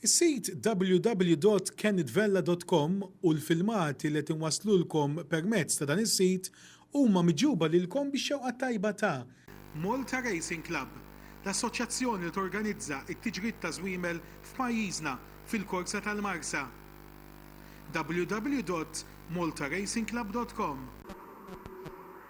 Is-sit www.kennitvella.com u l-filmati li qed inwasslulkom permezz ta' dan is-sit huma miġjuba lilkom bix-xewqa t-tajba ta'. Malta Racing Club, l-assoċjazzjoni li torganizza t-tiġrid ta' żwiemel f'pajjiżna fil-korsa tal-Marsa. www.maltaracingclub.com.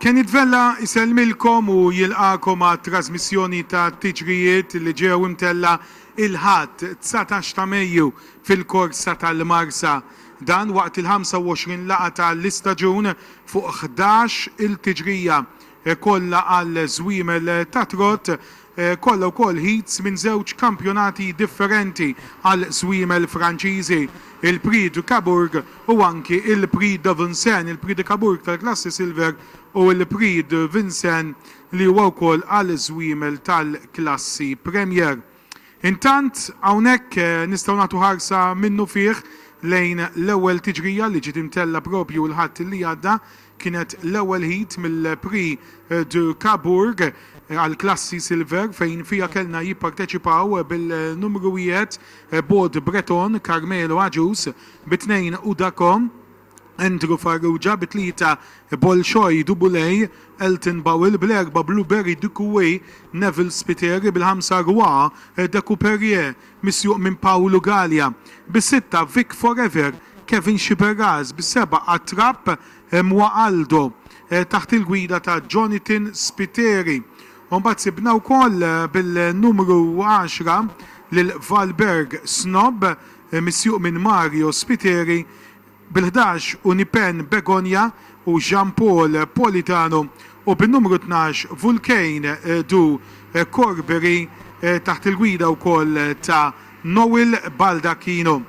Kenith Vella jsellmilkom u jilqagħkom għat-trażmissjoni ta' tiġrijiet li ġew imtellgħa il-Ħadd, dsatax ta' Mejju, fil-korsa tal-Marsa. Dan waqt il-25 laqgħa ta' l-istaġun fuq ħdax-il tiġrija kollha għal żwiemel tat-trott Kollha wkoll heats minn żewġ kampjonati differenti għal swiemel Franċiżi, il-Prix du Cabourg u anki il-Prix de Vincennes, il-Prix de Cabourg tal-klassi Silver u l-Prix de Vincennes li huwa wkoll għal swiemel tal-klassi Premier. Intant, hawnhekk nistgħu nagħtu ħarsa minnufih lejn l-ewwel tiġrija li ġiet imtellgħa propju l-Ħadd li għadda Kienet l-ewwel heat mill-Prix de Cabourg għall-klassi Silver fejn fiha kellna jipparteċipaw bil-numru wieħed Bod Breton, Carmelo Agius, bi tnejn Udako, Andrew Farrugia, bi tlieta Bolshoi Dubuley, Elton Bowell, bl-erbgħa Blueberry Ducouet, Neville Spiteri, bil-ħamsa Roy Decouperier, Misjuq minn Pawlu Galea bis-sitta, Vic Forever, Kevin Sciberras bis-seba' għat-trapp, Mwa Aldo taħt il-gwida ta' Jonathan Spiteri. U mbagħad sibna wkoll bil-numru għaxra lil Valberg Snob misjuq minn Mario Spiteri. bil-ħdax u Nipen Begonya u Jean Paul Politano u bin-numru tnax Vulcain du Corbery taħt il-gwida wkoll ta' Noel Baldacchino.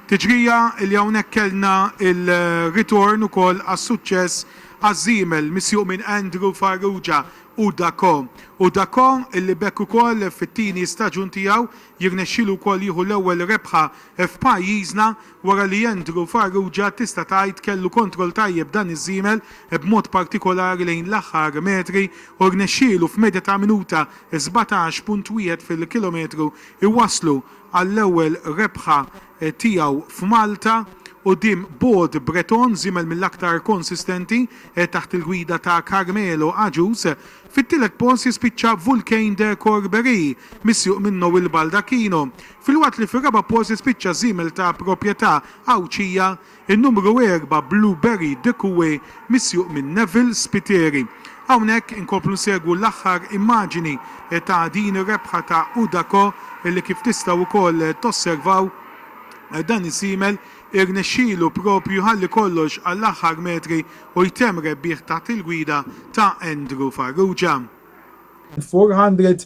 Tiġrija li hawnhekk kellna l-ritorn ukoll għas-suċċess għaż-żiemel misjuq minn Andrew Farrugia u Dacko u Dacko li b'hekk ukoll fit-tieni staġun tiegħu jirnexxielu wkoll jieħu l-ewwel rebħa f'pajjiżna Wara li Andrew Farrugia tista' tgħid kellu kontroll tajjeb dan iż-żiemel b'mod partikolari lejn l-aħħar metri u rnexxielu f'medja ta' minuta sbatax punt wieħed fil-kilometru jwasslu għall-ewwel rebħa tiegħu f'Malta quddiem Bold Breton, żiemel mill-aktar konsistenti taħt il-gwida ta' Carmelo Agius. Fit-tielet post jispiċċa Vulcain de Corberie, misjuq minn Noel Baldacchino. Filwaqt li fir-raba' post jispiċċa żiemel ta' proprjetà Għawdxija, in-numru erba' Blue Berry De Cue misjuq minn Neville Spiteri. Hawnhekk inkomplu nsegwu l-aħħar immaġini ta' din ir-rebħa ta' Udaco li kif tistgħu wkoll tosservaw dan iż-żiemel irnexxielu proprju jħalli kollox għall-aħħar metri u jtemm rebbieħ taħt il-gwida ta' Andrew Farrugia. Il-400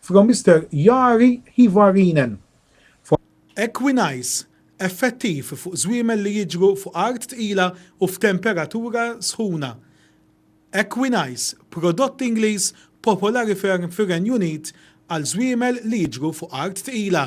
From Mister Jari Hyvarinen. Equinice, effettiv fuq żwiemel li jiġru fuq art tqila u f'temperatura sħuna. Equinice, prodott Ingliż popolari ferm fir-Renju Unit għal żwiemel li jiġru fuq art tqila.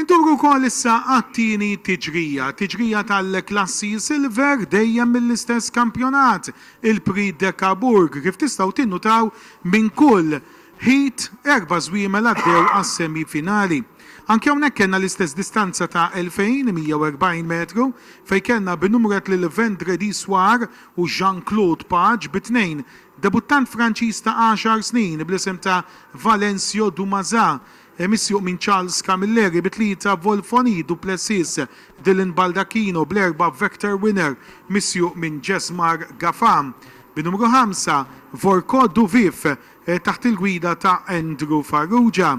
Induru wkoll issa għat-tieni tiġrija, tiġrija tal-klassi Silver dejjem mill-istess kampjonat, il-Prix de Cabourg. Kif tistgħu tinnutaw, minn kull heat erba' żwiemel għaddew għas-semi finali. Anki hawnhekk kellna l-istess distanza ta' 2,140 metru fejn kellna b'numret lil Vendredi Soir u Jean Claude Page bi tnejn, debuttant Franċiż ta' għaxar snin bl-isem ta' Valencio Dumaza Misjuq minn Charles Camilleri bi tlieta Volfoni Duplessis, Dylan Baldacchino bl-erba' Vector Winner misjuq minn Jesmar Gafà. Bi numru ħamsa, Vorko Duvif taħt il-gwida ta' Andrew Farrugia.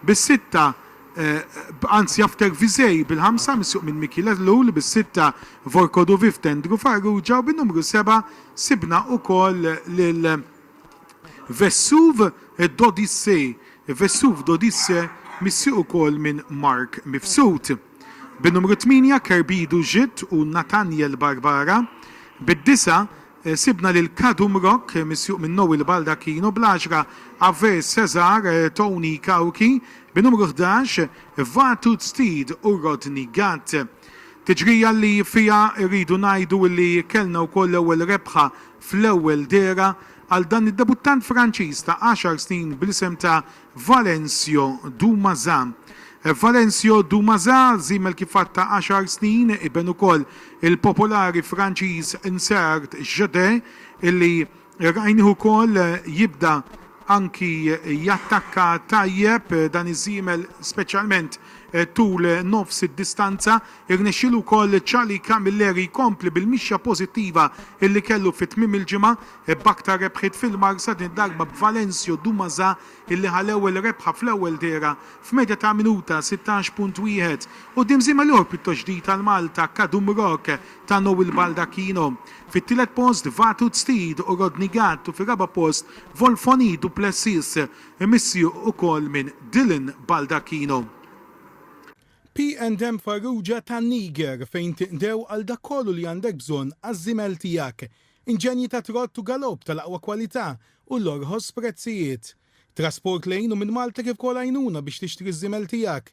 Bis-sitta, anzi After Visei bil-ħamsa misjuq minn Mickey Ellul, bis-sitta Vorko Duvif t'Andrew Farrugia u bin-numru seba' sibna ukoll lil. Vesuv d'Odyssée, Vesuv d'Odyssée missieq ukoll minn Mark Mifsud, bin-numru tmienja Kerbidu Žid u Nathaniel Barbara, bid-disgħa sibna lil Kadum Rock missieq minn Noel Baldacchino, bl-għaxra Ave César Tony Cauchi, bin-numru ħdax Vatud Steed u Rodney Gatt. Tiġrija li fiha rridu ngħidu li kellna wkoll l-ewwel rebħa fl-ewwel dehra għal dan id-debuttant Franċiż ta' għaxar snin bl-isem ta' Valencio Dumaza. Valencio Dumaza, żiemel kif għad ta' għaxar snin, iben ukoll il-popolari Franċiż Nsart Jadé illi Rajnih ukoll jibda anki jattakka tajjeb dan iż-żiemel speċjalment tul nofs id-distanza. Irnexxielu wkoll Charlie Camilleri jkompli bil-mixja pożittiva li kellu fi tmiem il-ġimgħa b'aktar rebħiet fil-marsa din id-darba b'Valencio Dumaza li ħa l-ewwel rebħa fl-ewwel dehra f'medja ta' minuta 16.1 quddiem żiemel ieħor pjuttost ġdid għal Malta Kadum Rock ta' Noel Baldacchino. Fit-tielet post Vaatut Steed u Rodney Gatt u fir-raba' post Volfoni du Plessis imissieq ukoll minn Dylan Baldacchino. P and M Farrugia ta' Niger fejn tinqdew għal dak kollu li għandek bżonn għaż-żimel tiegħek. Inġenji ta' trott u galopp tal-aqwa kwalità u l-orħos prezzijiet. Trasport lejn u minn Malta kif ukoll għajnuna biex tixtri ż-żimel tiegħek.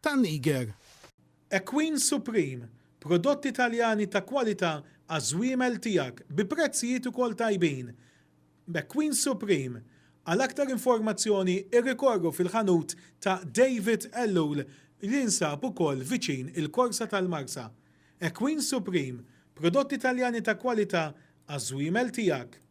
tan-Niger. Equine Supreme, prodotti Taljani ta' kwalità għaż-żwiemel tiegħek bi prezzijiet ukoll tajbin. Equine Supreme. Għal aktar informazzjoni irrikorru fil-ħanut ta' David Ellul li jinsab ukoll viċin il-Korsa tal-Marsa. Equine Supreme, prodotti Taljani ta' kwalità għaż-żwiemel tiegħek.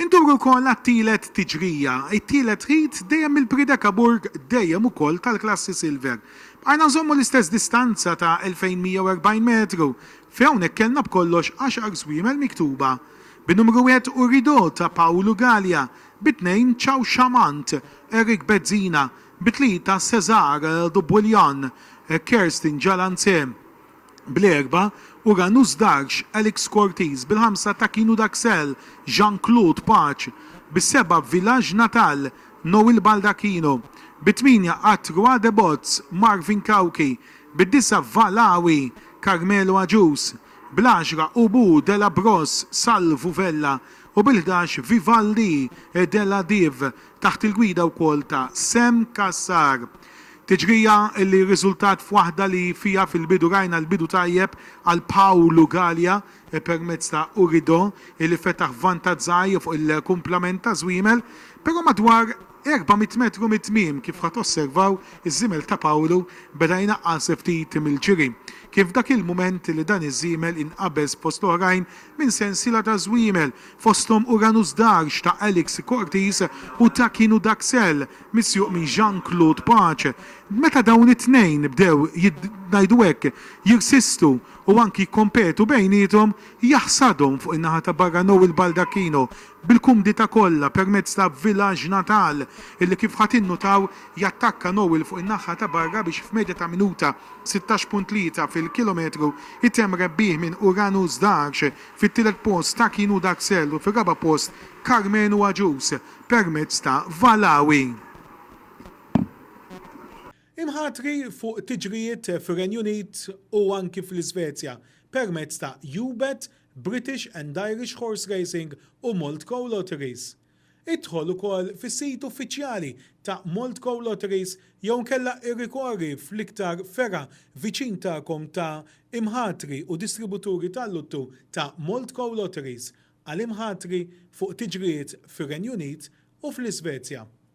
Indur ukoll għat-tielet tiġrija, it-tielet ħid dejjem mill-Priedekaburg dejjem ukoll tal-klassi Silver. Bqajna nżommu l-istess distanza ta' 2140 metru fejn hawnhekk kellna b'kollox għaxar żwiemel miktuba bin-numru wieħed Urido ta' Paolo Galea, bit-tnejn Ciao Chamant, Eric Bezzina, bit-tlieta Cesar Dubwiljan, Kerstin Jalanze, bl-erbgħa u Ranus Darx, Alex Cortese, bil-ħamsa Takinu Daxel, Jean Claude Pace, bis-sebgħa Village Natal, Noel Baldacchino, bit-tmienja Atrua de Bots, Marvin Cauchi, bid-disgħa Valawi, Carmelo Agius, bl-għaxra Ubu Della Bros, Salvu Vella, u bil-ħdax Vivaldi Della Div, taħt il-gwida wkoll ta' Sam Cassar. Tiġrija li rriżultat f'waħda li fiha fil-bidu rajna l-bidu tajjeb għal Paolo Galea permezz ta' Urido li fetaħ vantaġġ żgħir fuq il-kumplament ta' Żwiemel, però madwar 400 metru mit-tmiem, kif ħa tosservaw, iż-żiemel ta' Paolo beda jnaqqas ftit mill-ġiri. Kien f'dak il-mument li dan iż-żiemel inqabeż fost l-oħrajn minn sensiela ta' żwiemel fosthom Uranus Darge ta' Alex Cortis u Taquin u Daxel misjuq minn Jean Claude Pace. Meta dawn it-tnejn bdew, ngħidu hekk, jirsistu u anki jikkompetu bejniethom, jaħsadhom fuq in-naħa ta' barra Noel Baldacchino bil-kumdità kollha permezz ta' Village Natal illi kif ħa tinnutaw jattakka Noel fuq in-naħa ta' barra biex f'medja ta' minuta 16.3 fil-kilometru jtemm rebbieħ minn Uranus Darge Fit-tielet post ta' kienu Daxel u fir-raba' post Karmenu Agius permezz ta' Valawi. Imħatri fuq tiġrijiet fir-Renju Unit u anki fl-Isvezja permezz ta' UBET, British and Irish Horse Racing u Malt Co Lotteries. Idħol ukoll fis-sit uffiċjali ta' Moldco Lotteries jew inkella irrikorri fl-iktar fergħa viċin tagħkom ta' imħatri u distributuri tal-luttu ta' Moldco Lotteries għal imħatri fuq tiġrijiet fir-Renju Unit u fl-Isvezja.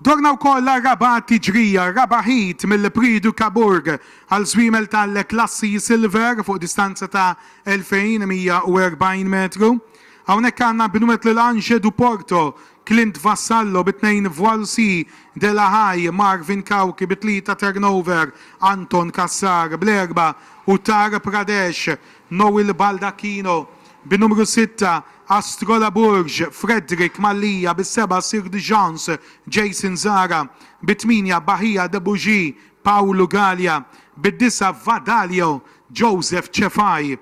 Dorna wkoll għar-raba' tiġrija, r-raba' heat mill-Prix du Cabourg għal żwiemel tal-klassi Silver fuq distanza ta' 2,140 metru. Hawnhekk għandna Benoit Lelange du Porto, Clint Vassallo bi tnejn Voilcy de la Haye, Marvin Cauchi bi tlieta Turnover, Anton Cassar bl-erbgħa u Tar Pradesh Noel Baldacchino bin-numru sitta, Astrola Burg, Frederick Mallia bis-sebgħa, Sir de Jans, Jason Zara bit-tmienja, Bahia de Bougie, Paolo Galea bid-disgħa, Vadalio, Joseph Cefai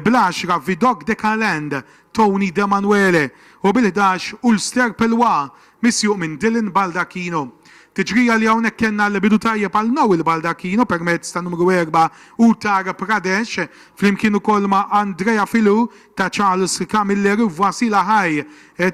bl-għaxra, Vidocq de Calend, Tony Demanuele u bil-ħdax, Ulster Pelwa, Misjuq minn Dylan Baldacchino. Tiġrija li hawnhekk kellna l-bidu tajjeb għal Noel Baldacchino permezz tan-numru erba' Uttar Pradesh flimkien ukoll ma' Andrea Filou ta' Charles Camilleri u Vasila High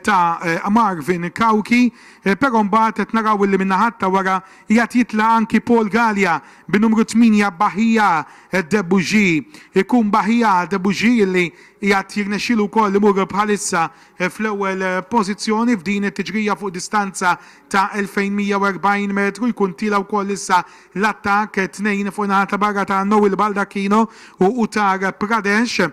ta' Marvin Cauchi però mbagħad qed naraw illi min-naħat ta' wara qiegħed jitlaq anki Paul Galea bin-numru tmienja Bahia de Bougie. Ikun Bahia de Bougie illi qiegħed jirnexxielu wkoll imur bħalissa fl-ewwel pożizzjoni f'din it-tiġrija fuq distanza ta' 2,140 metru jkun tiela' wkoll issa l-attakk, tnejn fuq naħa ta' barra ta' Noel Baldacchino u Uttar Pradesh,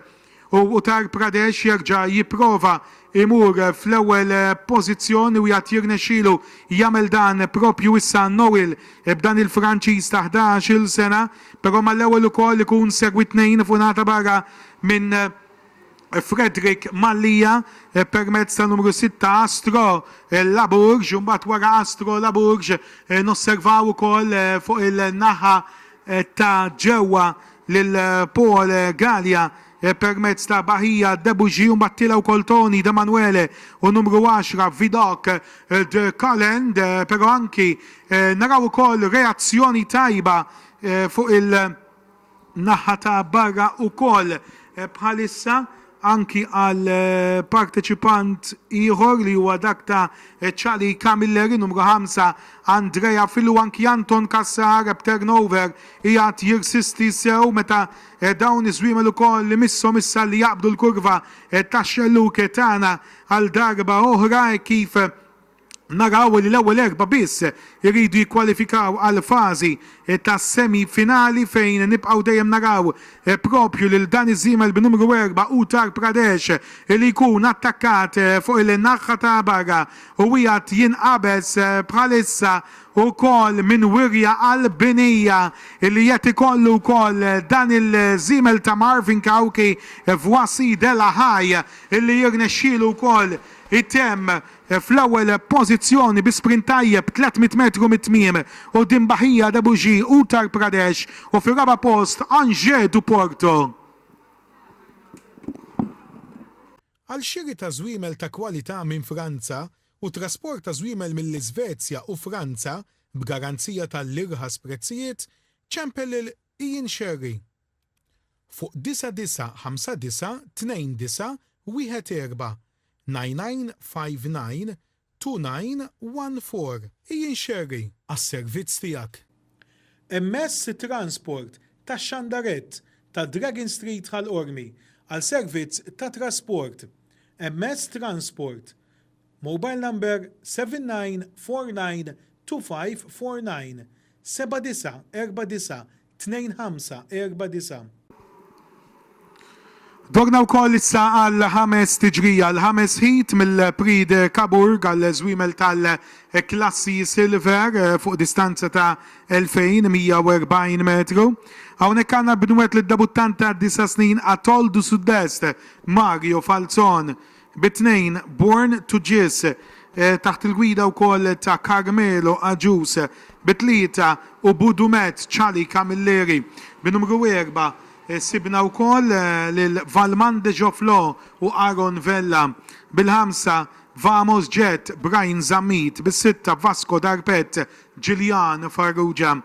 u Uttar Pradesh jerġa' jipprova jmur fl-ewwel pożizzjoni u jgħad jirnexxilu jagħmel dan proprju issa Noel b'dan il-Franċiż ta' ħdax-il sena, però mal-ewwel ukoll ikun segwit tnejn fuq naħa ta' barra minn Frederick Mallia permezz ta' numru 6 Astro Labourge u mbagħad wara Astro Labourge nosservaw ukoll fuq il-naħa ta' ġewwa lil Paul Galea permezz ta' Bahia Debugy u mbagħad tiela' wkoll Tony D'Emanuele u numru 10 Vidocq de Calend però anki naraw ukoll reazzjoni tajba fuq il- Naħa ta' barra ukoll bħalissa anki għal parteċipant ieħor li huwa dak ta' Charlie Camilleri, numru ħamsa Andrea Fillu, anki Anton Cassar b'turnover qiegħed jirsisti sew meta dawn iż-żwiemel ukoll imisshom issa li jaqbdu l-kurva tax-xellug tagħna għal darba oħra hekk kif naraw li l-ewwel erbgħa biss iridu jikkwalifikaw għall-fażi tas-semi finali fejn nibqgħu dejjem naraw proprju lil dan iż-żiemel b'numru erba' Uttar Pradesh li jkun attakkat fuq il-naħħa ta' barra u qiegħed jinqabeż bħalissa wkoll minn wirja Albinija li qed ikollu wkoll dan il-żiemel ta' Marvin Cauchi f'Wasidellahay li jirnexxielu wkoll itemm fl-ewwel pożizzjoni bi sprint tajjeb 300 metru mit-tmiem quddiem Bahia de Buji, Uttar Pradesh, u fir-raba' post Anže do Porto. Għal xiri ta' żwiemel ta' kwalità minn Franza u trasport ta' żwiemel mill-Iżvezja u Franza b'garanzija ta' l-irħas prezzijiet, ċempel lil Ian Scerri. fuq 99592914992914. Ijin Scerri, għas-servizz tiegħek. Immess it-transport tax-xandarett ta' Dragon Street Ħal Qormi għal servizz ta' trasport. Immess transport. Mobile number 79492549 79492549. Dorna wkoll issa għal ħames tiġrija, l-ħames ħit mill-Prix de Cabourg għal żwiemel tal-klassi Silver fuq distanza ta' 2140 metru. Hawnhekk għandna b'nwed lid-debuttant ta' disa' snin Atol du Sud-Est, Mario Falzon, bit-tnejn Born to Jizz taħt il-gwida wkoll ta' Carmelo Agius, bit-tlieta Ubu Dumet, Charlie Camilleri, bin-numru erbgħa sibna wkoll lil Valmand Dejoflò u Aaron Vella, bil-ħamsa Vamos Jet, Brian Zammit, bis-sitta Vasco Darpet, Julian Farrugia,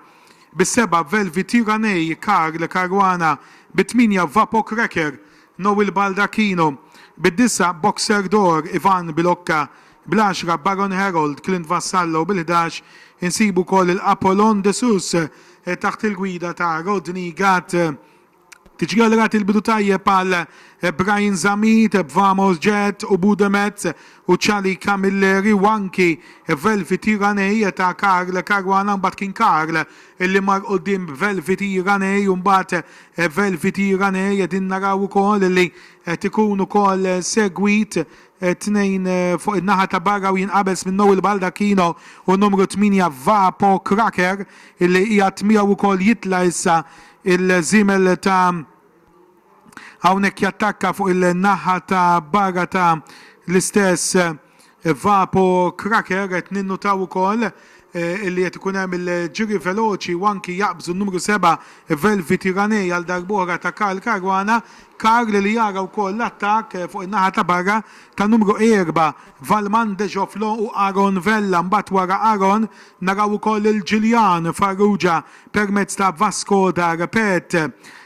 bis-sebgħa Velvi Tyranei, Karl Caruana, bit-tmienja Vapo Cracker, Noel Baldacchino, bid-disa' Boxer d'Or, Ivan Bilocca, bl-għaxra Baron Harold, Clint Vassallo, bil-ħdax insibu wkoll il-Apollon de Sus taħt il-gwida ta' Rodney Gatt. Tiġri għal rati l-bidu tajjeb għal Brian Zammit, b'Vamos Jet u Bude Metz u Charlie Camilleri u anki Velvety Raney ta' Carl Caruana mbagħad kien Carl li mar quddiem b'Velvety Raney u mbagħad Velviti Rane qegħdin naraw ukoll li qed ikun ukoll segwit tnejn fuq in-naħa ta' barra u jinqabeż minn Noel Baldacchino u numru 8 Vapo Cracker illi qiegħed miegħu ukoll jitla' issa il-żiemel ta' hawnhekk jattakka fuq il-naħa ta' barra ta' l-istess Vapo Cracker qed ninnutaw ukoll illi qed ikun hemm il-ġiri veloċi u anki jaqbżu n-numru seba' Velvi Tyranne għal darb'oħra ta' Karl Caruana. Karl li jara wkoll l-attakk fuq in-naħa ta' barra ta' numru erba' Valmand De Joflo u Aaron Vella. Mbagħad wara Aaron naraw ukoll lil Julian Farrugia permezz ta' Vasco Da Repet.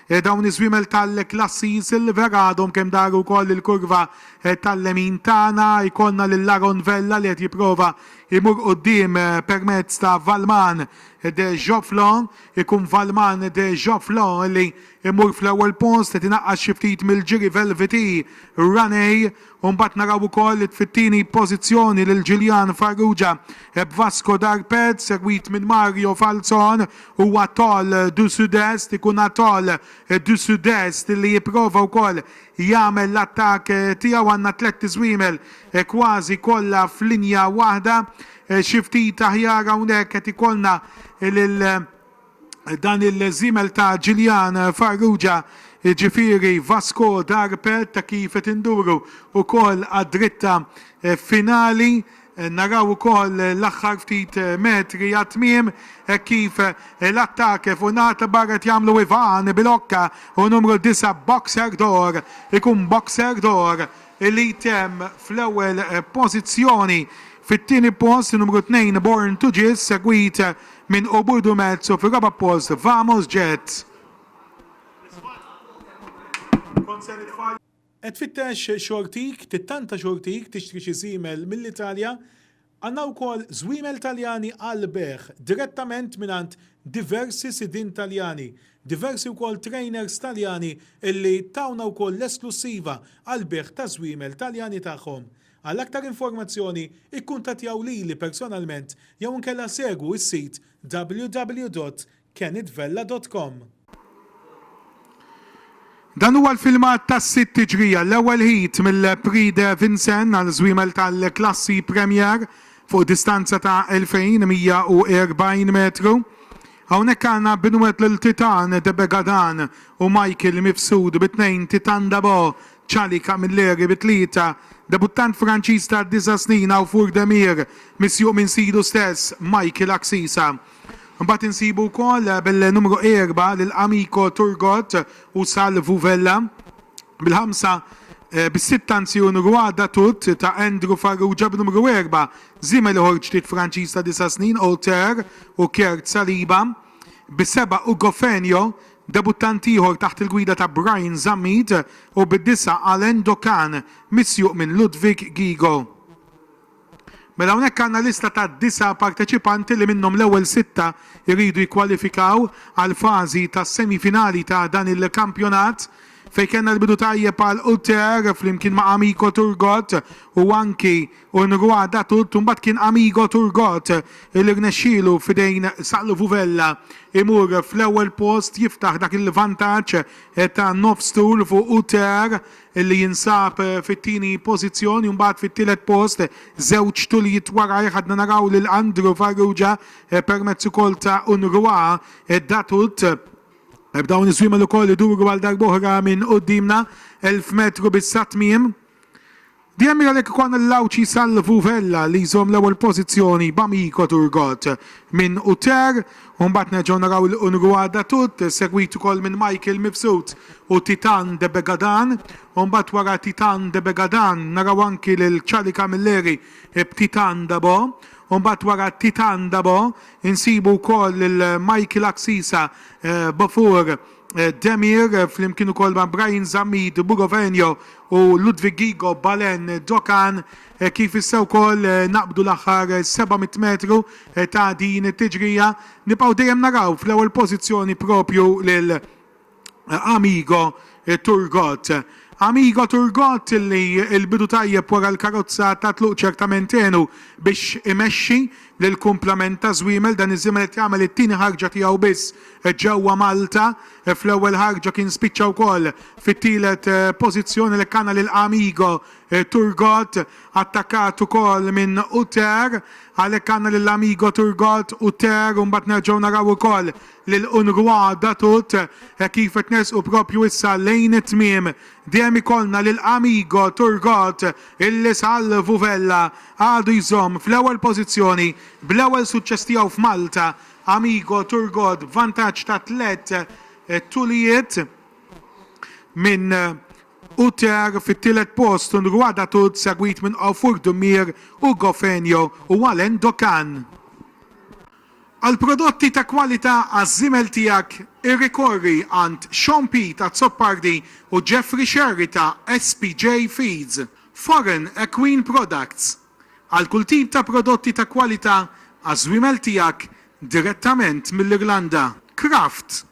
Dawn iż-żwiemel tal-klassi Silver għadhom kemm daru wkoll il-kurva Tal-lemin tagħna jkollna lil Aaron Vella li qed jipprova jmur quddiem permezz ta' Valman de Joflon. Ikun Valman de Joflon li jmur fl-ewwel post, qed inaqqas xi ftit mill-ġiri Velvety Raney. U mbagħad naraw ukoll fit-tieni pożizzjoni lil Julian Farrugia b'Vasco Darpez, segwit minn Mario Falzon u Atoll du Sud-Est. Ikun Atoll du Sud-Est li jipprova wkoll jagħmel l-attakk tiegħu. Għandna tlett iżwiemel kważi kollha f'linja waħda. Xi ftit aħjar hawnhekk qed ikollna lil dan il-żiemel ta' Ġiljan Farrugia, jiġifieri Vasco Darpert, kif qed induru wkoll għad-dritta finali. Naraw ukoll l-aħħar ftit metri għat-tmiem hekk kif l-attakk fuq in-naħa ta' barra qed jagħmlu Ivan Bilocca u numru disa' Boxer d'Or. Ikun Boxer d'Or li jtemm fl-ewwel pożizzjoni. Fit-tieni post numru tnejn Born to Jizz segwit minn Ubud u Metz u fir-raba' post Vamos Jets. Qed tfittex xortik, tittanta xortik, tixtri xi żiemel mill-Italja? Għandna wkoll żwiemel Taljani għall-bejgħ direttament mingħand diversi sidien Taljani, diversi wkoll trainers Taljani illi tawna wkoll l-esklussiva għall-bejgħ taż-żwiemel Taljani tagħhom. Għal aktar informazzjoni ikkuntattjaw lili personalment jew inkella segwu s-sit www. kenittvella dot com. Dan huwa l-filmat tas-sitt tiġrija, l-ewwel heat mill-Prix de Vincennes għal żwiemel tal-klassi Premier fuq distanza ta' 2,140 metru. Hawnhekk għandna Benoit Lil Titan de Begadan u Michael Mifsud bi tnejn, Titan d'Abo, Charlie Camilleri bi tlieta, debuttant Franċiż ta' disa' snin Awfour Demir misjuq minn sidu stess, Michael Axisa. Imbagħad insibu wkoll bil-numru erba' lil Amico Turgot u Salvu Vella, bil-ħamsa, bis-sitta anzi hu Roi Datut ta' Andrew Farrugia, b'numru erba' żiemel ieħor ġdid Franċiż ta' disa' snin, Auteur u Kjerd Saliba, bis-seba' Ugo Fenio, debuttant ieħor taħt il-gwida ta' Brian Zammit u bid-disa' Alain Dokan, misjuq minn Ludwig Gigo. Mela hawnhekk għandna lista ta' disa' parteċipanti li minnhom l-ewwel sitta jridu jikkwalifikaw għall-fażi tas-semifinali ta' dan il-kampjonat fejn kellna l-bidu tajjeb għal Uter flimkien ma' Amico Turgot u anki Un Roi d'Atout u mbagħad kien Amigo Turgot li rnexxielu f'idejn Saqlu Vuvella imur fl-ewwel post jiftaħ dak il-vantaġġ ta' nofs tul fuq Uter li jinsab fit-tieni pożizzjoni u mbagħad fit-tielet post, żewġ tuljiet warajh għadna naraw lil Andrew Farrugia permezz ukoll ta' Unrwa Datut. Dawn iż-żwiemel ukoll iduru għal darb'oħra minn quddiemna, elf metru biss għat-tmiem. Dejjem għalhekk ikollna lil Għawdxi Salvu Vella li jżomm l-ewwel pożizzjoni b'Amico Turgot minn Uter U mbagħad nerġgħu naraw il Unrwa Datut, segwit ukoll minn Michael Mifsud u Titan de Begadan. U mbagħad wara Titan de Begadan naraw anki lil Charlie Camilleri b'Titan Dabo. U mbagħad wara Titan Dabo insibu wkoll lil Michael Axisa b'Ofur Demir flimkien ukoll ma' Brian Zammit b'Bugovenio u Ludwig Gigo b'Alain Dokan. Kif issa wkoll naqbdu l-aħħar 700 metru ta' din it-tiġrija, nibqgħu dejjem naraw fl-ewwel pożizzjoni proprju lil Amigo Turgot. Amigo Turgot li l-bidu tajjeb wara l-karozza tat-tluq ċertament għenu biex imexxi lill-kumplament ta' Żwiemel. Dan iż-Żwiemel qed jagħmel it-tieni ħarġa tiegħu biss ġewwa Malta. Fl-ewwel ħarġa kien spiċċa wkoll fit-tielet pożizzjoni, għalhekk għandna lil Amigo Turgot attakkat ukoll minn Uter, għalhekk għandna lil Amigo, Turgot, Uter u mbagħad nerġgħu naraw ukoll lil Unrwa, Datut, hekk kif qed nersqu proprju issa lejn it-tmiem dejjem ikollna lil Amigo, Turgot, illi salvu Vella għadu jżomm fl-ewwel pożizzjoni bl-ewwel suċċess tiegħu f'Malta, Amigo, Turgot b'vantaġġ ta' tliet tulijiet minn Uter fit-tielet post u Ngwada Tud segwit minn Ofur Dumir u Gofenio u Alain Dokan. Għal prodotti ta' kwalità għaż-żiemel tiegħek irrikorri għand Shaun Pete Azzopardi u Jeffrey Scerri ta' SPJ Feeds, Foreign Equine Products, għal kull tip ta' prodotti ta' kwalità għaż-żwiemel tiegħek direttament mill-Irlanda, Kraft,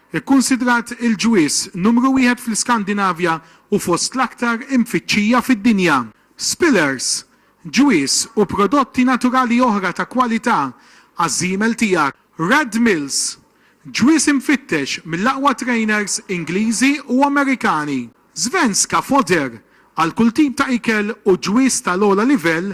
Ikkunsidrat il-ġwież numru wieħed fl-Iskandinavja u fost l-aktar imfittxija fid-dinja. Spillers, ġwież u prodotti naturali oħra ta' kwalità għaż-żiemel tiegħek. Red Mills, ġwież imfittex mill-aqwa trejners Ingliżi u Amerikani. Svenska Foder, għal kull tip ta' ikel u ġwież tal-ogħla livell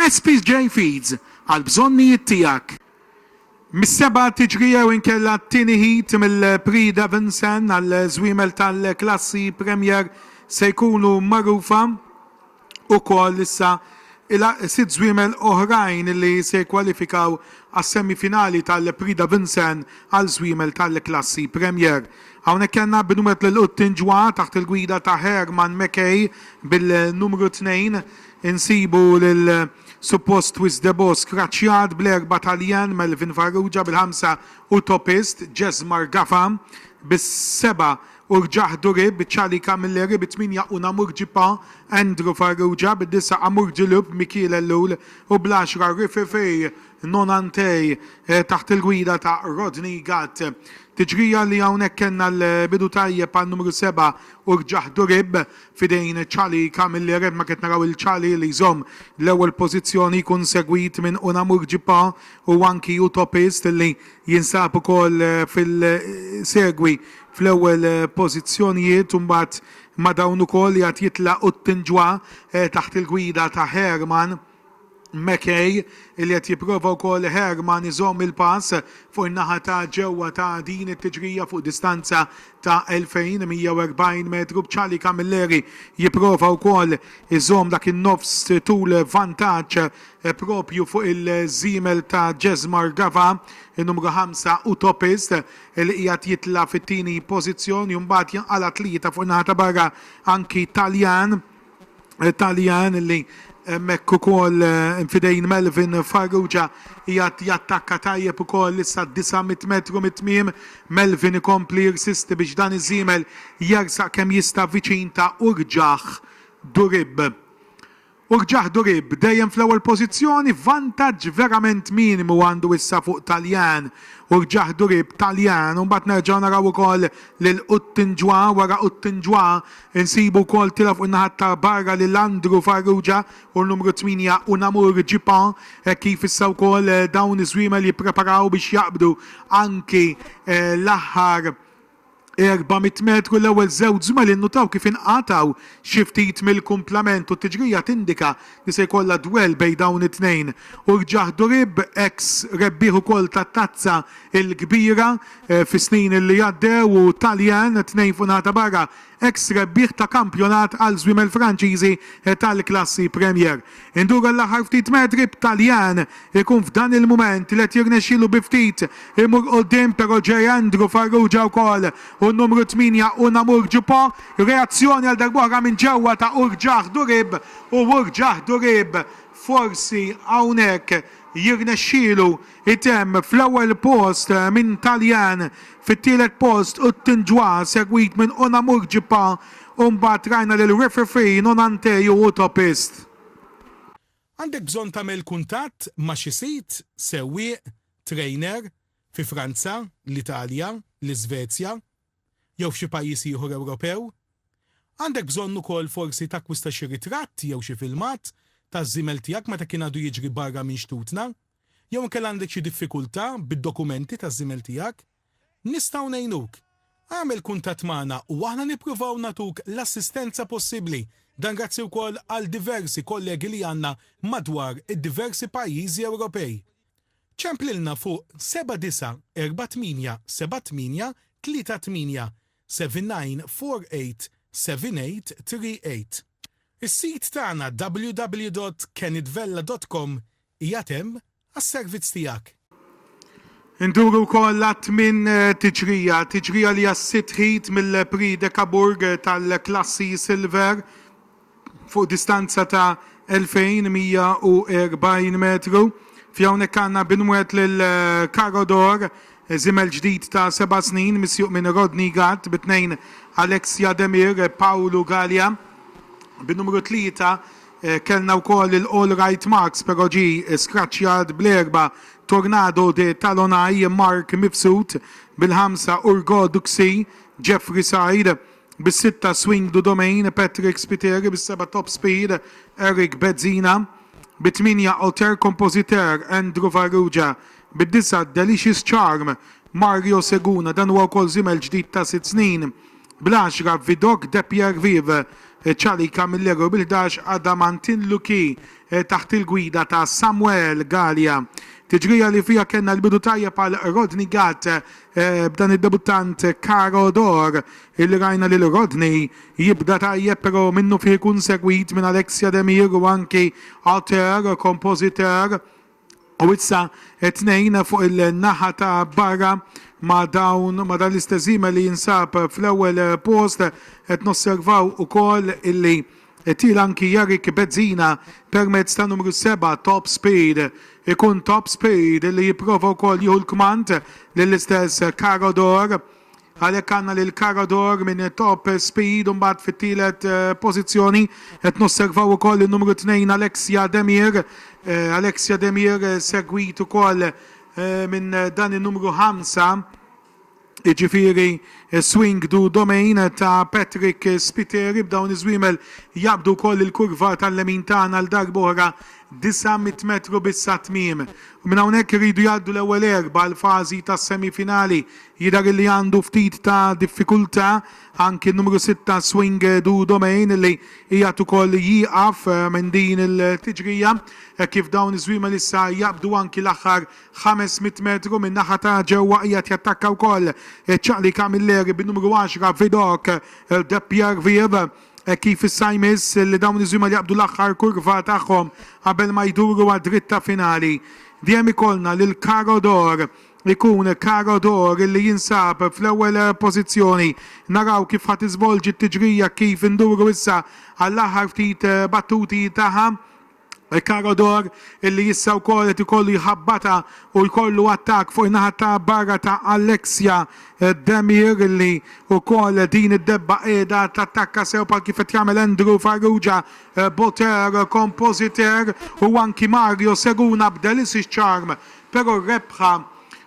SPJ Feeds għall-bżonnijiet tiegħek. Mis-seba' tiġri jew inkella t-tieni heat mill-Prix Davinson għall-żwiemel tal-klassi Premier se jkunu magħrufa ukoll issa sitt żwiemel oħrajn li se jikkwalifikaw għas-semifinali tal-Prix Davinson għal żwiemel tal-klassi Premier. Hawnhekk kellna binwet lil Quttinġwa taħt il-gwida ta' Herman Mekay bil-numru tnejn. Insibu lil suppost Twiss de Bosch kraċċjat bl-erba' Taljan, Melvin Farrugia bil-ħamsa u topist, Jesmar Gafa, bis-seba' u rġah Durib, b'ċalika mill-għerrieb it-tmienja u Namur Ġippa, Andrew Farrugia, bid-disa' Amour du Loup, Mikiel Ellul, u bl-għaxra Rififi, Nonantey, taħt il-gwida ta' Rodney Gatt. Tiġrija li hawnhekk kellna l-bidu tajjeb għal numru 47 Durib f'idejn Chali Camilli Red Market naraw il Chali li jżomm l-ewwel pożizzjoni jkun segwit minn Unamur Jipa u anki Utopist li jinsab ukoll fil segwi fl-ewwel pożizzjonijiet u mbagħad ma' dawn ukoll jgħad jitlaq Uttinjwa taħt il-gwida ta' Herman McKay, li qed jipprova wkoll Herrmann iżomm il-pass fuq in-naħa ta' ġewwa ta' din it-tiġrija fuq distanza ta' 2,140 metru b'Charlie Camilleri jipprova wkoll iżomm dak in-nofs tul vantaġġ proprju fuq il-żiemel ta' Jesmar Gava, in-numru 5 Utopist, li qiegħed jitla' fit-tieni pożizzjoni u mbagħad jinqala' tlieta fuq in-naħa ta' barra anki Taljan. Taljan li hemmhekk ukoll fidejn Melvin Farrugia jgħat jattakka tajjeb ukoll issa 900 metru mit-tmiem. Melvin ikompli jirsisti biex dan iż-żiemel jersaq kemm jista' viċin ta' Urġah Durib. Urġah Durib dejjem fl-ewwel pożizzjoni, vantaġġ verament minimu għandu issa fuq Taljan. Urġah Durib, Taljan u mbagħad nerġgħu naraw ukoll lil Uttinjwa wara Uttinjwa Insibu wkoll tila fuq in-naħa ta' barra lil Andrew Farrugia u l-numru 8 Unamur Djipon hekk kif issa wkoll dawn iż-żwiemel jippreparaw biex jaqbdu anki l-aħħar 400 metru. L-ewwel żewġ żwiemel innutaw kif inqatgħu xi ftit mill-kumplament u t-tiġrija tindika li se jkollha dwell bejn dawn it-tnejn u Rġah Durib, eks rebbieħ ukoll tat-Tazza l-Kbira fis-snin li għaddew u Taljan, tnejn fuq naħa ta' barra, eks rebbieħ ta' kampjonat għal żwiemel Franċiżi tal-klassi Premier. Indur għall-aħħar ftit metri b'Taljan ikun f'dan il-mument li qed jirnexxielu bi ftit imur quddiem però ġej Andrew Farrugia wkoll u n-numru tmienja Unamur Djupò. Reazzjoni għal darb'oħra minn ġewwa ta' Rġah Durib u Urġah Durib forsi hawnhekk jirnexxielu jtemm fl-ewwel post minn Taljan, fit-tielet post Uttinġwa segwit minn Unamur Ġippa u mbagħad rajna lil Rifrifin u Nantej u Utopist. Għandek bżonn tagħmel kuntatt ma' xi sid, sewwieq, trainer, fi Franza, l-Italja, l-Iżvezja, jew f'xi pajjiż ieħor Ewropew. Għandek bżonn ukoll forsi takkwista xi ritratt jew xi filmat taż-żiemel tiegħek meta kien għadu jiġri barra minn xtutna. Jew inkella għandek xi diffikultà bid-dokumenti taż-żiemel tiegħek? Nistgħu ngħinuk. Agħmel kuntatt magħna u aħna nippruvaw nagħtuk l-assistenza possibbli. Dan grazzi wkoll għal diversi kollegi li għandna madwar id-diversi pajjiżi Ewropej. Ċemplilna fuq 79487838 79487838. Is-sit tagħna www.kenitvella.com qiegħed hemm għas-servizz tiegħek. Induru wkoll għat-tmien tiġrija, tiġrija li hija s-sitt ħid mill-Prix de Cabourg tal-klassi Silver. fuq distanza ta' 2,140 metru. Fi hawnhekk għandna binwet lil Karodor, żiemel ġdid ta' seba' snin misjuq minn Rodney Gatt, bi tnejn Alexia Demir, Paolo Galea. Bin-numru tlieta kellna wkoll il-Allright Marks però ġie skraċċjat bl-erbgħa Tornado de Talonai, Mark Mifsud, bil-ħamsa Urgo Duxi, Jeffrey Said, Bis-sitta Swing Du Domain, Patrick Spiteri, bis-seba' Top Speed, Eric Bezzina, bit-tmienja Auteur Compositeur, Andrew Farrugia, bid-disgħa Delicious Charm, Mario Seguna, dan huwa wkoll żiemel ġdid ta' sitt snin, bl-għaxra Vidocq De Pierre Vive, Charlie Camilleri u bil-ħdax Adamantin Lucky taħt il-gwida ta' Samuel Galea. Tiġrija li fiha kellna l-bidu tajjeb għal Rodney Gatt Eh, b'dan id-debuttant Caro Dor illi rajna lil Rodney jibda tajjeb però minnu fih ikun segwit minn Alexia Demir u anki Auteur, kompożitur u issa tnejn fuq il-naħa ta' barra ma' dawn ma' dan l-istess li jinsab fl-ewwel post qed nosservaw ukoll illi It-tielet anki Jarek Bezzina permezz ta' numru seba' Top Speed. Ikun Top Speed li jipprova wkoll jieħu l-kmand lill-istess Caro Dor. Għalhekk għandna lil Caro Dor minn Top Speed u mbagħad fit-tielet pożizzjoni qed nosservaw ukoll in-numru tnejn Alexia Demir. Alexia Demir segwit ukoll minn dan in-numru ħamsa jiġifieri swing du domain ta' Patrick Spiteri b'dawn iż-żwiemel jaqbdu wkoll il-kurva tal-lemin tagħna għal darba oħra 900 metru biss għat-tmiem. Minn hawnhekk iridu jgħaddu l-ewwel erbgħa għal fażi tas-semi finali. Jidher illi għandu ftit ta' diffikultà anki n-numru sitta swing du domain illi qiegħed ukoll jieqaf minn din il-tiġrija hekk kif dawn iż-żwiemel issa jaqbdu anki l-aħħar Ħames mitt metru min-naħa ta' ġewwa qiegħed jattakka wkoll iċ-ċaqli Camilleri bin-numru għaxra Vidocq, De Pierre-Vive. Hekk kif issa jmiss li dawn iż-żwiemel jaqbdu l-aħħar kurva tagħhom qabel ma jduru għad-dritta finali. Dejjem ikollna lil Caro d'Or. Ikun Caro d'Or li jinsab fl-ewwel pożizzjoni. Naraw kif ħa tiżvolġi t-tiġrija kif induru issa għall-aħħar ftit battuti tagħha. Il-karr odor, illi issa wkoll qed ikollu jħabbata u jkollu attakk fuq in-naħa ta' barra ta' Alexia Demir illi wkoll din id-debba qiegħda tattakka sew bħal kif qed jagħmel Andrew Farrugia, Boter, Compositer u anki Mario Seguna b'Delicious Charm Però r-rebħa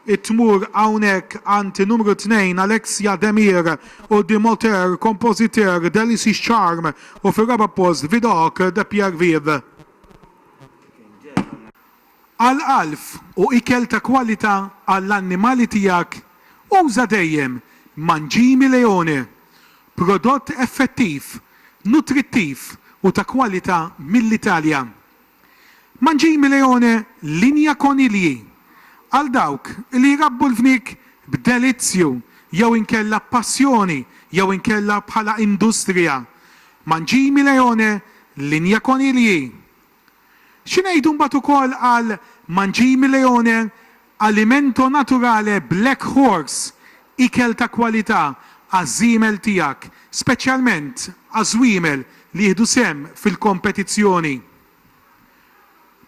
tmur hawnhekk għand in-numru tnejn Alexia Demir u The Moteur Compositeur Delices Charm u fir-raba' post Vidocq de Pierre Vive. Għall-għalf u ikel ta' kwalità għall-annimali tiegħek uża dejjem Mangimi Leone, prodott effettiv, nutrittiv u ta' kwalità mill-Italja. Mangimi Leone Linja Konilji għal dawk li jrabbu l-fniek b'delizzju jew inkella b'passjoni jew inkella bħala industrija Mangimi Leone Linja Konilji Xi ngħidu mbagħad ukoll għal Mangimi Leone Alimento Naturale Black Horse, ikel ta' kwalità għaż-żiemel tiegħek, speċjalment għaż-żwiemel li jieħdu sehem fil-kompetizzjoni.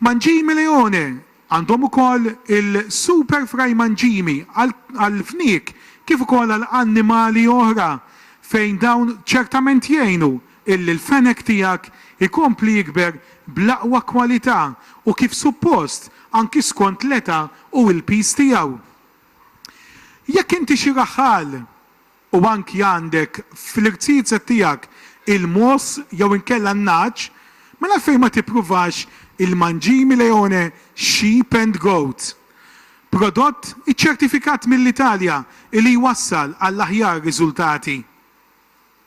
Mangimi Leone għandhom ukoll il-super fry mangimi għall-fniek kif ukoll għal annimali oħra fejn dawn ċertament jgħinu Illi l-fenek tiegħek ikompli jikber bl-aqwa kwalità u kif suppost, anki skont l-età u l-piż tiegħu. Jekk inti xi raħħal u anki għandek fl-irziezet tiegħek il-mogħoż jew inkella n-nagħaġ, mela għalfejn ma tippruvax il-Mangime Leone Sheep and Goat? Prodott iċċertifikat mill-Italja illi jwassal għall-aħjar riżultati.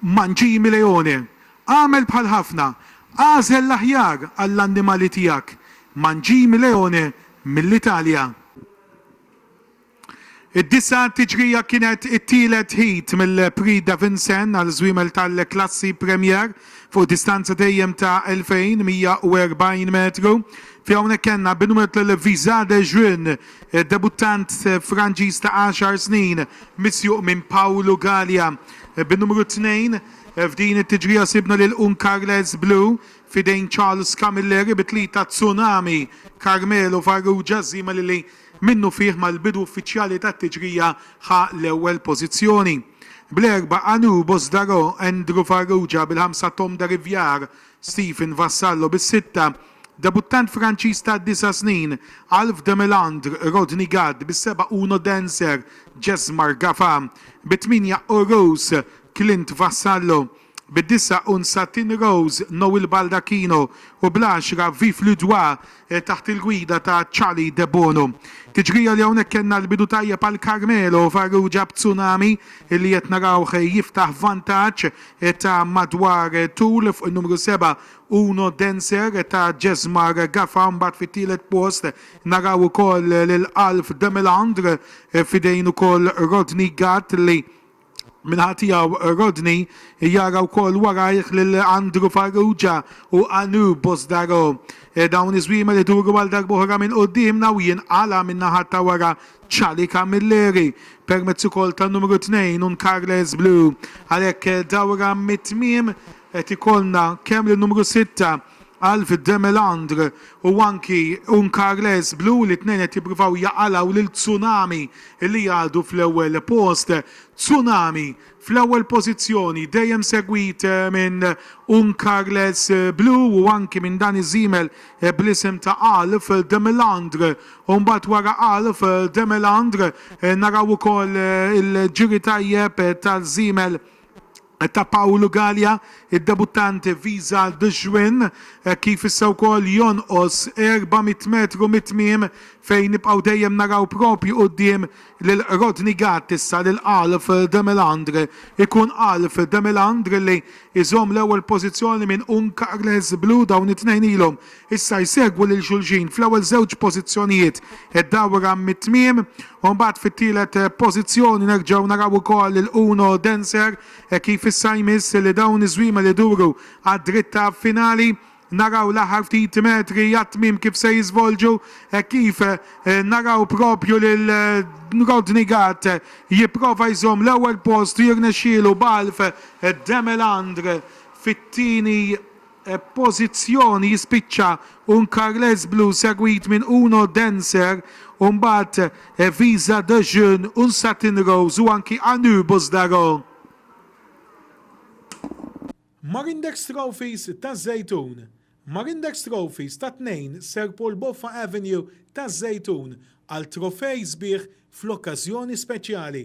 Mancini Leone, Agħmel bħal ħafna, agħżel l-aħjar għall-annimali tiegħek. Mancini Leone mill-Italja. Id-disa' tiġrija kienet it-tielet heat mill-Prix Davinson għal żwiemel tal-klassi Premier fuq distanza dejjem ta' 2,140 metru. Fi hawnhekk kellna Benoît Vizadejun Id-debuttant Franġiż ta' għaxar snin misjuq minn Pawlu Galea bin-numru tnejn. F'din it-tiġrija sibna lil Uncarles Blu f'idejn Charles Camilleri bi tlieta Tsunami, Carmelo Farrugia, żiemel li minnufih mal-bidu uffiċjali tat-tiġrija ħa l-ewwel pożizzjoni. Bl-erba' Anubo Sdaro, Andrew Farrugia, bil-ħamsa Tom Dariviar, Stephen Vassallo bis-sitta, debuttant Franċiż ta' disa' snin, Alph de Mélandres, Rodney Gatt bis-seba' Uno Dancer, Jesmar Gafa bit-tmienja u Rose, Clint Vassallo bid-disa' u Nsatin Rose, Noel Baldacchino u bl-għaxra Vive Ludois, taħt il-gwida ta' Charlie Debono. Tiġrija li hawnhekk kellna l-bidu tajjeb għal Carmelo u Farrugia b'Tsunami li qed narawh jiftaħ vantaġġ ta' madwar tul fuq in-numru seba' Uno Dancer ta' Jesmar Gafa u mbagħad fit-tielet post naraw ukoll lil Alf de Melandre f'idejn ukoll Rodney Gatt li Min-naħa tiegħu Rodney jara wkoll warajh lil Andrew Farrugia u Anu Bosdaro. Dawn iż-żwiemel iduru għal darb'oħra minn quddiemna u jinqala' min-naħa ta' wara Charlie Camilleri permezz ukoll tan-numru 2 Carles Blue. Għalhekk dawra mit-tmiem qed ikollna kemm lin-numru sitta Alf de Melandre u anki un Carles Blu li t-tnejn qed jippruvaw jaqalgħu lil Tsunami li għadu fl-ewwel post. Tsunami fl-ewwel pożizzjoni dejjem segwit minn un Carles Blu u anki minn dan iż-żiemel bl-isem ta' Alf de Melandre u mbagħad wara Alf de Melandre naraw ukoll il-ġiri tajjeb tal-żiemel ta' Pawlu Galea, id-debuttant Visa de Juin, hekk kif issa wkoll jonqos 400 metru mit-tmiem fejn nibqgħu dejjem naraw proprju quddiem lil Rodney Gatt issa lil Alf de Melandre. Ikun Alf de Melandre li jżomm l-ewwel pożizzjoni minn Uncarles Blu dawn it-tnejn ilhom Issa jsegwu lil xulxin fl-ewwel żewġ pożizzjonijiet id-dawra mit-tmiem u mbagħad fit-tielet pożizzjoni nerġgħu naraw ukoll lil Uno Dancer kif issa jmiss li dawn iż-żwiemel iduru għad-dritta finali. Naraw l-aħħar ftit metri għat-tmiem kif se jiżvolġu hekk kif naraw proprju lil Rodney Gatt jipprova jżomm l-ewwel post u jirnexxielu b'Alf Demelandre fit-tieni pożizzjoni jispiċċa un Carles Blu segwit minn Uno Dancer u mbagħad Visa de Jeune, Un Satin Rose u anki A Nu Buzdaron. Marindex Trophies taż-Żejtun Marindex Trophies ta' 2 Sir Paul Boffa Avenue taż-Żejtun għal trofej sbieħ fl-okkażjoni speċjali.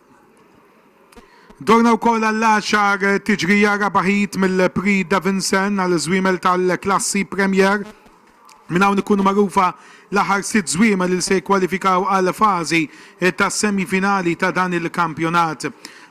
Dorna wkoll għall-għaxar tiġrija raba' ħid mill-Prix Davinson għall-żwiemel tal-klassi Premier. Minn hawn ikunu magħrufa l-aħħar sitt żwiemel li se jikkwalifikaw għall-fażi tas-semifinali ta' dan il-kampjonat.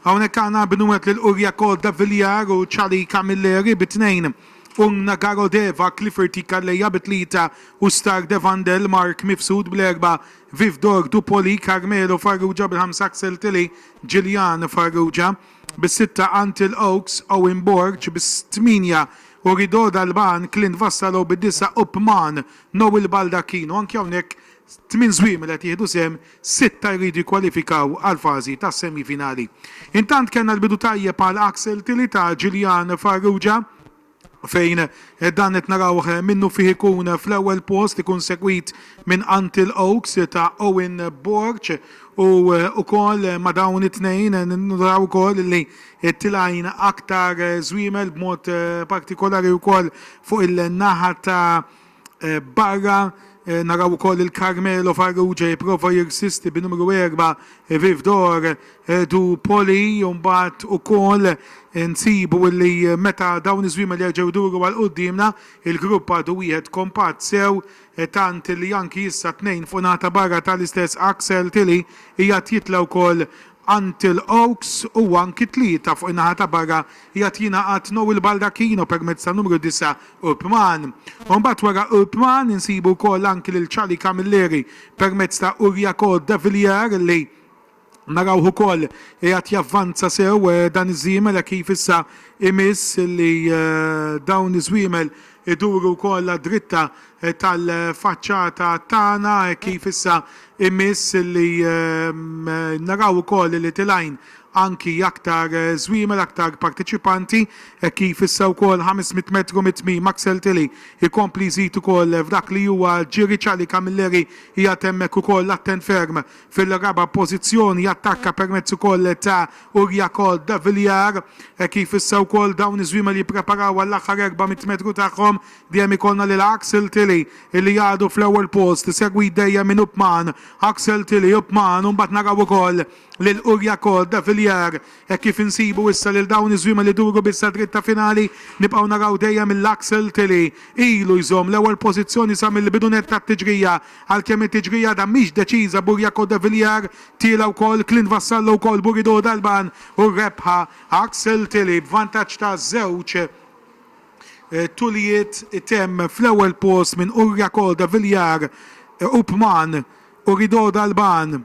Hawnhekk għandna Bnuet lil Uriakod Davilliar u Chali Camilleri bi tnejn, Ung Nagaro Deva, Clifford T. Calleja bi tlieta u Star Devandel, Mark Mifsud bl-erbgħa. Viv Dor du Poli, Carmelo Farrugia bil-ħamsa Axel Tilley, Gillian Farrugia bis-sitta Antle Oaks, Owen Borg bis-tmienja u Rideau Dalban, Clint Vassallo bid-disgħa u Pman, Noel Baldacchino. Anki hawnhekk tmien żwiemel qed jieħdu sehem, sitta jridu jikkwalifikaw għall-fażi tas-semifinali. Intant kellna l-bidu tajjeb għal Axel Tilley ta' Gillian Farrugia. fejn dan qed narawh minnufih ikun fl-ewwel post ikun segwit minn Antill Oaks ta' Owen Borg u wkoll ma' dawn it-tnejn naraw ukoll li tilgħin aktar żwiemel b'mod partikolari wkoll fuq il-naħa ta' barra. Naraw ukoll il Carmelo Farrugia jipprova jirsisti bi numru 4 Viv Dor du Poli u mbagħad ukoll nsibu li meta dawn iż-żwiemel jerġgħu jduru għal quddiemna il-grupp għadu wieħed kompatt sew tant li anki issa tnejn fuq naħa ta' barra tal-istess Axel Tilly qiegħed jitla' wkoll Antill Oaks huwa anki tlieta fuq in-naħa ta' barra jgħad jingħaqad Noel Baldacchino permezz tan-numru 9 Urpman. U mbagħad wara Urpman insibu wkoll anki lil Charlie Camilleri permezz ta' Uriaco Davillier li narawh ukoll qiegħed javvanza sew dan iż-żiemel hekk kif issa imiss li dawn iż-żwiemel Iduru wkoll għad-dritta tal-faċċata tagħna hekk kif issa jmiss li naraw ukoll li tilgħin anki aktar żwiemel, aktar parteċipanti hekk kif issa wkoll 500 metru mit-tmiem Axel Tilley jkompli jżid ukoll f'dak li huwa ġiri. Charlie Camilleri qiegħed hemmhekk ukoll attent ferm Fil-raba' pożizzjoni jattakka permezz ukoll ta' Uriakol de Villiar. Hekk kif issa wkoll dawn iż-żwiemel jippreparaw għall-aħħar 400 metru tagħhom, dejjem ikollna lil Axel Tilley illi għadu fl-ewwel post, isegwit dejjem minn Upman, Axel Tilley, Upman u mbagħad naraw ukoll lil Uriakol de Villiar Hekk kif insibu issa lil dawn iż-żwiema li jduru biss għad-dritt ta' finali, nibqgħu naraw dejjem il-Laxalt li ilu jżomm l-ewwel pożizzjoni sa mill-bidu nett tat-tiġrija. Għalkemm it-tiġrija għadha mhix deċiża, Burjaco de Villiers tiela' wkoll, Clint Vassallo wkoll, Burido Dalban u rebħa Axel Tilley b'vantaġġ ta' żewġ tuljiet itemm fl-ewwel post minn Urjaco de Villiers u Pman Urido Dalban.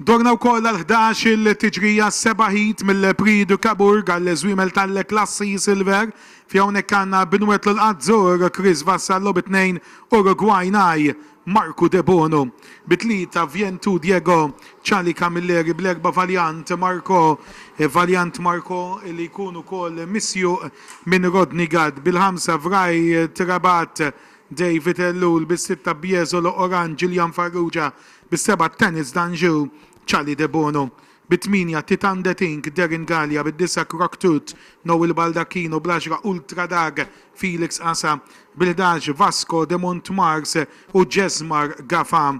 Dorna wkoll għal ħdax il-tiġrija seba' ħit mill-Prix de Cabourg għall-żwiemel tal-klassi Silver fi hawnhekk għandna Benoit Lul Azzurr, Chris Vassallo bi tnejn Urugwaj ngħi, Marco Debono bi tlieta Vientu Diego, Charlie Camilleri bl-erbgħa Valiant Marco, Valiant Marco li jkun ukoll misjuq minn Rodney Gatt bil-ħamsa Wright Rabat, David Ellul bis-sitta Biesolo Orange Julian Farrugia bis-seba' Tanis Danjou, Charlie Debono, bit-tmienja Titan De Tinck, Darren Galea, bid-disgħa Croc Tut, Noel Baldacchino, bl-għaxra Ultra Dag, Felix Asa, bil-ħdax Vasco De Montmars u Jesmar Gafa.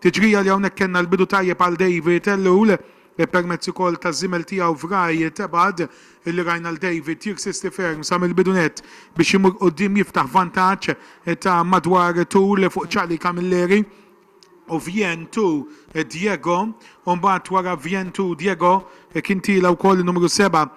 Tiġrija li hawnhekk kellna l-bidu tajjeb għal David Ellul, permezz ukoll taż-żiemel tiegħu Vraj Tebad, li rajna 'l David jirsisti ferm sa mill-bidu nett biex imur quddiem jiftaħ vantaġġ ta' madwar tul fuq Charlie Camilleri. u Vien tu Diego u mbagħad wara Vien tu Diego kien tiela wkoll numru 7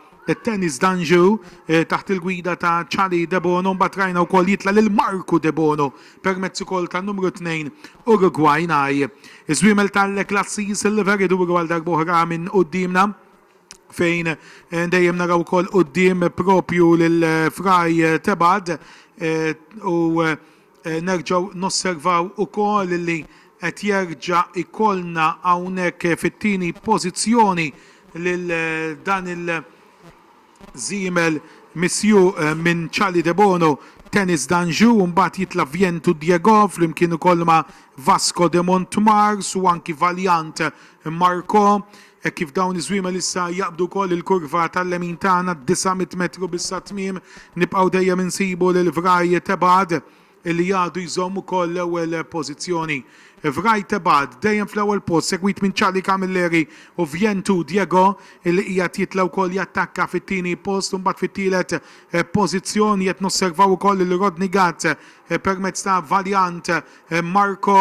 Tennis Dangereux eh, taħt il-gwida ta' Charlie Debono mbagħad rajna wkoll jitla' lil Marku Debono permezz ukoll ta' numru 2 Uruguay Naj. Iż-żwiemel tal-klassi Silver iduru għal darbohra minn qudiemna fejn eh, dejjem naraw ukoll quddiem propju lil eh, Fraj Tebad u Nerġgħu nosservaw ukoll li qed jerġa' jkollna hawnhekk fit-tieni pożizzjoni lil dan il-żiemel misjuq minn Charlie Debono, Tennis d'Anjou, imbagħad jitla' Viento Diego flimkien ukoll ma' Vasco de Montmars u anki Valiant Marco. Hekk kif dawn iż-żwiemel issa jaqbdu wkoll il-kurva tal-lemin tagħna, disa' mitt metru biss għat-tmiem, nibqgħu dejjem insibu lil Vraj Tebgħad li għadu jżomm ukoll l-ewwel pożizzjoni. Vraj Tebgħad dejjem fl-ewwel post segwit minn Charlie Camilleri u Vjentu Diego li qiegħed jitla' wkoll jattakka fit-tieni post u mbagħad fit-tielet pożizzjoni qed nosservaw ukoll lil Rodney Gatt permezz ta' Valiant Marco.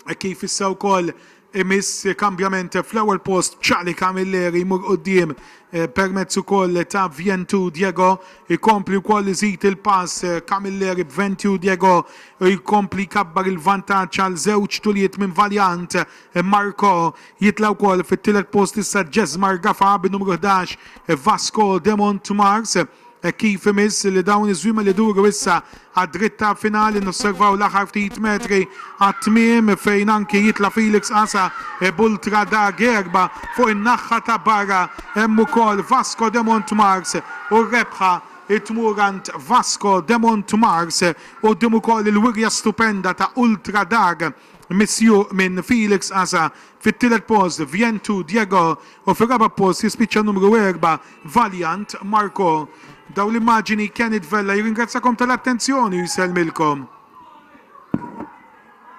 Hekk kif issa wkoll imiss kambjament fl-ewwel post Charlie Camilleri jmur quddiem permezz ukoll ta' Vjentu Diego jkompli wkoll iżid il-pass Camilleri b'Ventju Diego jkompli jkabbar il-vantaġġ għal żewġ tuliet minn Valiant Marco jitla' wkoll fit-tielet post issa Jesmar Gafa bin-numru 11 Vasco de Montmars. Hekk kif imiss li dawn iż-żwiemel iduru issa għad-dritt tal-finali nosservaw l-aħħar ftit metri għat-tmiem fejn anki jitla' Felix Asa b'ultra da Gerba fuq in-naħħa ta' barra hemm ukoll Vasco de Montmars u r-rebħa tmur għand Vasco de Montmars quddiem ukoll il-wirja stupenda ta' Ultra Dar Misjuq minn Felix Asa, fit-tielet post Vientu Diego u fir-raba' post jispiċċa n-numru erbgħa Valiant Marco. Dawn l-immaġini Kenny Vella jirringrazzjakom tal-attenzjoni u jsellmilkom.